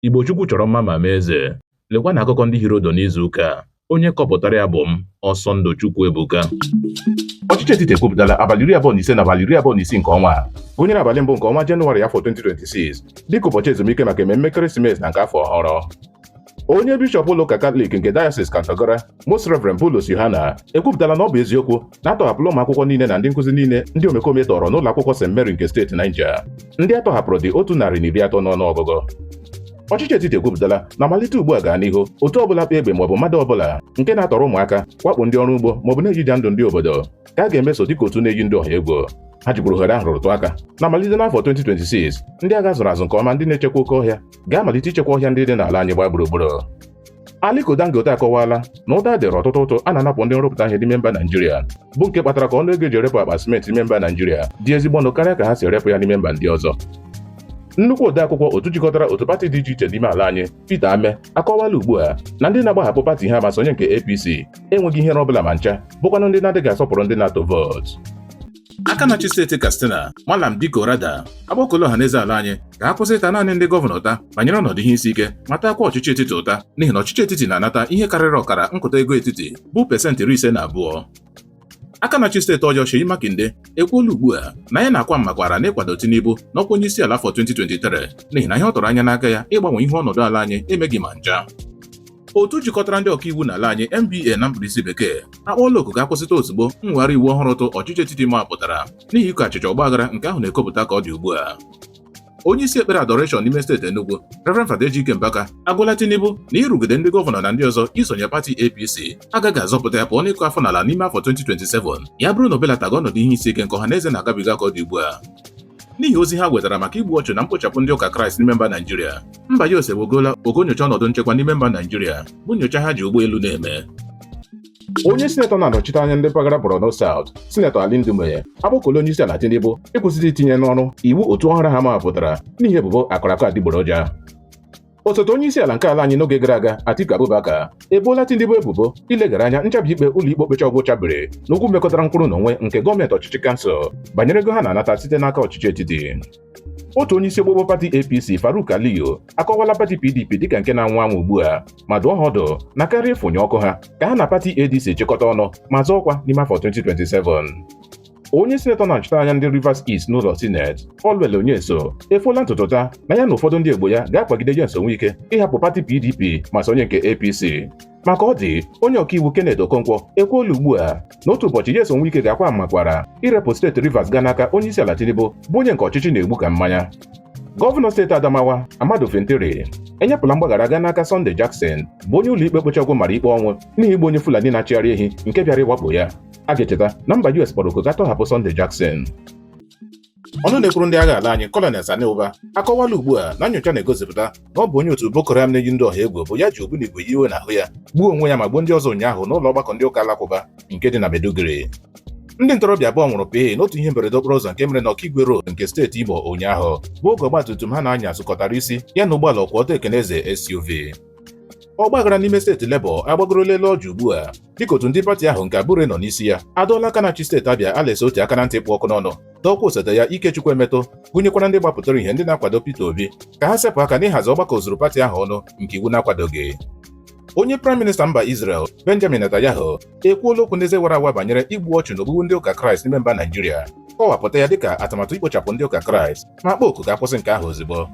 Igbo Chukwu chọrọ mma ma mee eze. Lekwa na akụkọ ndị hịrị ụdụ n'izu ụka a. Onye kọpụtara ya bụ m, Ọsọndụ Chukwuebuka. Ọchịchị etiti ekwupụtala abalị iri abụọ na ise na abalị iri abụọ na isii nke ọnwa a gụnyere abalị mbụ nke ọnwa Jenụwarị afọ 2026 dịka ụbọchị ezumike maka ememme ekeresimesi na nke afọ ọhụrụ. Onye bishọp ụlọụka Katọlik nke Diocese Kontagora Most Reverend Bulus Yohana ekwupụtala na ọ bụ eziokwu na atọhapụla ụmụ akwụkwọ niile na ndị nkụzi niile ndị omekome tọọrọ n'ụlọ akwụkwọ St Mary nke steeti Niger ndị atọhapụrụ dị otu narị na iri atọ n'ọnụ ọgụgụ ọchịchị etiti ekwupụtala na malite ugbu a gaa n'ihu otu ọbụla kpa egbe maọbụ mmadụ ọbụla nke na-atọrọ ụmụaka wakpo ndị ọrụ ugbo maọbụ na-ejija ndụ ndị obodo ka a ga-emeso dịka otu na-eyi ndụ ọha egwu ha jikwuru ohere ahụ rụtụ aka na malite n'afọ 2026 ndị agha zụrụ azụ nke ọma ndị na-echekwa oke ọhịa ga-amalite ichekwa ọhịa ndị dị n'ala anyị gbaa gburugburu Aliko Dangote akọwaala na ụta dịrị ọtụtụ ụtụ a na-anapụ ndị nrụpụta ihe n'ime mba Naijiria bụ nke kpatara ka ọnụ ego eji erepụ akpa simenti n'ime mba Naijiria dị ezigbo ọnụ karịa ka ha si erepụ ya n'ime mba ndị ọzọ nnukwu odeakwụkwọ otu jikọtara otu pati dị iche iche n'ime ala anyị Peter Ameh akọwaala ugbu a na ndị na-agbahapụ pati ha ma sonye nke APC enweghị ihere ọ bụla ma ncha bụkwanụ ndị na-adịghị asọpụrụ ndị na-atụ vootu aka na-achị steeti Katsina Malam Dikko Radda agbakuola ọhaneze ala anyị ka ha kwụsị ịta naanị ndị gọvanọ ụta banyere ọnọdụ ihe isi ike ma taakwa ọchịchị etiti ụta n'ihi na ọchịchị etiti na-anata ihe karịrị ọkara nkụta ego etiti bụ pasentị iri ise na abụọ aka na-achị steeti Oyo Seyi Makinde ekwuola ugbu a na ya na-akwa mmakwara n'ịkwado Tinubu n'ọkwa onye isi ala afọ 2023 n'ihi na ihe ọ tụrụ anya n'aka ya ịgbanwe ihe ọnọdụ ala anyị emeghị ma ncha otu jikọtara ndị ọkaiwu n'ala anyị NBA na mkpirisi bekee akpọọla oku ka a kwụsịtụ ozugbo mmegharị iwu ọhụrụ ụtụ ọchịchị etiti mapụtara n'ihi iko achịcha ọgbaghara nke ahụ na-ekopụta ka ọ dị ugbu a onye isi ekpere Adoration n'ime steeti Enugu Reverend Fada Ejike Mbaka agwala Tinubu na ịrụgide ndị gọvanọ na ndị ọzọ isonye pati APC agaghị azọpụta ya pụọ n'ịkụ afọ n'ala n'ime afọ 2027 ya bụrụ na o belataghị ọnọdụ ihe isi ike nke ọha na eze na-agabiga ka ọ dị ugbu a n'ihi ozi ha wetara maka igbu ọchụ na mkpochapụ ndị ụka kraịst n'ime mba naijiria mba US ebugoola ogo nyocha ọnọdụ nchekwa n'ime mba naijiria bụ nyocha ha ji ụgbọelu na-eme onye sinetọ na-anọchite anya ndị mpaghara Borno South sinetọ Ali Ndume akpọkuola onye isi ala Tinubu ịkwụsịtụ itinye n'ọrụ iwu ụtụ ọhụrụ ha mapụtara n'ihi ebubo akara aka adịgboroja Osote onye isi ala nke ala anyị n'oge gara aga Atiku Abubakar eboola Tinubu ebubo ileghara anya nchabi ikpe ụlọikpe okpecha ọgwụ chabiri n'okwu mekụtara nkwụrụ na onwe nke gọọmenti ọchịchị kansụl banyere ego ha na-anata site n'aka ọchịchị etiti otu onye isi ogbogbo pati APC Farouk Aliyu akọwaala pati PDP dịka nke na-anwụ anwụ ugbu a ma dụọ ha ọdụ na karịa ịfụnye ọkụ ha ka ha na pati ADC chịkọta ọnụ ma zọọ ọkwa n'ime afọ 2027 onye sinetọ na-anọchite anya ndị Rivers East n'ụlọ sineti Allwell Onyesoh efuola ntụtụta na ya na ụfọdụ ndị ogbo ya ga-akwagide Nyesom Wike ịhapụ pati PDP ma sonye nke APC maka ọ dị onye ọkaiwu Kenneth Okonkwo ekwuola ugbu a na otu ụbọchị Nyesom Wike ga-akwa mmakwara irepụ steeti Rivers gaa n'aka onye isi ala Tinubu bụ onye nke ọchịchị na-egbu ka mmanya gọvanọ steeti Adamawa Ahmadu Fintiri enyepụla mgbaghara gaa n'aka Sunday Jackson bụ onye ụlọikpe kpechagwo mara ikpe ọnwụ n'ihi igbu onye Fulani na-achịgharị ehi nke bịara ịwakpo ya A ga-echeta na mba US kpọrọ oku ka a tọhapụ Sunday Jackson. ọnụ na-ekwuru ndị agha ala anyị Colonel Sani Uba akọwala ugbu a na nyocha na-egosipụta na ọ bụ onye otu Boko Haram na-eyi ndị ọha egwu bụ ya ji ogbunigwe yiwe n'ahụ ya gbuo onwe ya ma gbuo ndị ọzọ ụnyaahụ n'ụlọ ọgbakọ ndị ụka alakụba nke dị na Maiduguri ndị ntorobịa abụọ nwụrụ pịị n'otu ihe mberede okporo ụzọ nke mere na Okigwe Road nke steeti Imo ụnyaahụ bụ oge ọgbatumtum ha na-anya sụkọtara isi ya na ụgbọala ọkwụ ọtọ ekene eze SUV ọgbaghara n'ime steeti Labour agbagorola elu ọjị ugbu a dịka otu ndị pati ahụ nke Abure nọ n'isi ya adọọla aka na-achị steeti Abịa Alex Otti aka na ntị kpụ ọkụ n'ọnụ dọọkwa osote ya Ikechukwu Emetu gụnyekwara ndị gbapụtara ihe ndị na-akwado Peter Obi ka ha sepụ aka n'ịhazi ọgbakọ ozuru pati ahụ ọnụ nke iwu na-akwadoghị onye praịm minista mba Israel Benjamin Netanyahu ekwuola okwu n'eze wara awa banyere igbu ọchụ na ogbugbu ndị ụka Kraịst n'ime mba Naijiria kọwapụta ya dịka atụmatụ ikpochapụ ndị ụka Kraịst ma kpọọ oku ka a kwụsị nke ahụ ozugbo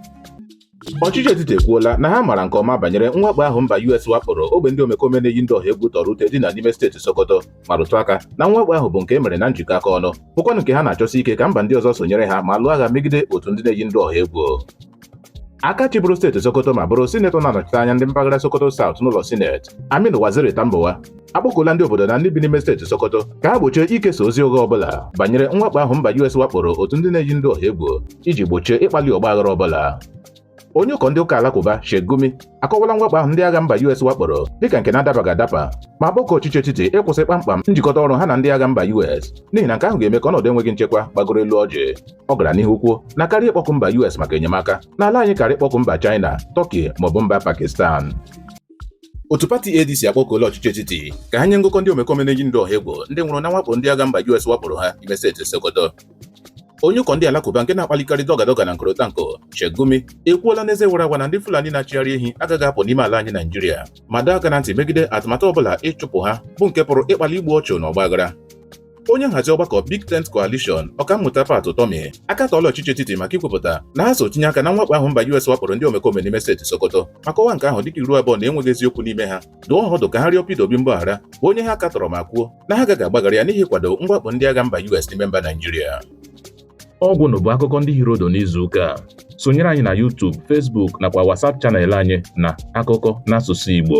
Ọchịchị etiti ekwuola na ha mara nke ọma banyere mwakpo ahụ mba US wakporo ogbe ndị omekome na-eyi ndị ọha egwu tọrọ ute dị na n'ime steeti Sokoto ma rụtụ aka na mwakpo ahụ bụ nke e mere na njikọ aka ọnụ bụkwanụ nke ha na-achọsi ike ka mba ndị ọzọ sonyere ha ma lụọ agha megide otu ndị na-eyi ndị ọha egwu aka chịbụrụ steeti Sokoto ma bụrụ sinetọ na-anọchite anya ndị mpaghara Sokoto South n'ụlọ sineti Aminu Waziri Tambuwal akpọkuola ndị obodo na ndị bi n'ime steeti Sokoto ka ha gbochie ikesa ozi ụgha ọbụla banyere mwakpo ahụ mba US wakporo otu ndị na-eyi ndị ọha egwu iji gbochie ịkpali ọgbaghara ọbụla onye ụkọ ndị ụka alakụba Sheikh Gumi akọwala mwakpo ahụ ndị agha mba US wakporo dịka nke na-adabaghị adaba ma kpọkuo ọchịchị etiti ịkwụsị kpamkpam njikọta ọrụ ha na ndị agha mba US n'ihi na nke ahụ ga-eme ka ọnọdụ enweghị nchekwa gbagoro elu ọjị ọ gara n'ihu kwuo na karịa ịkpọku mba US maka enyemaka na ala anyị kaara ịkpọku mba China Turkey maọbụ mba Pakistan otu pati ADC akpọkuola ọchịchị etiti ka ha nye ngụkọ ndị omekome na-eyi ndụ ọha egwu ndị nwụrụ na mwakpo ndị agha mba US wakporo ha ime steeti Sokoto onye ụkọ ndị alakụba nke na-akpalikarị dọgadoga na nkorotanko Sheikh Gumi ekwuola n'eze wara awa na ndị Fulani na-achịgharị ehi agaghị apụ n'ime ala anyị Naijiria ma dọọ aka na ntị megide atụmatụ ọbụla ịchụpụ ha bụ nke pụrụ ịkpali igbu ọchụ na ọgbaghara onye nhazi ọgbakọ Big Tent Coalition ọkammụta Pat Utomi akatọọla ọchịchị etiti maka ikwupụta na ha so tinye aka na mwakpo ahụ mba US wakporo ndị omekome n'ime steeti Sokoto ma kọwaa nke ahụ dịka iru abụọ na enweghị eziokwu n'ime ha dụọ ha ọdụ ka ha rịọ Peter Obi mgbaghara bụ onye ha katọrọ ma kwuo na ha agaghị agbaghara ya n'ihi ịkwado mwakpo ndị agha mba US n'ime mba Naijiria ọ gwụla bụ akụkọ ndị hiri ụdụ n'izu ụka a sonyere anyị na YouTube Facebook nakwa WhatsApp channel anyị na akụkọ n'asụsụ Igbo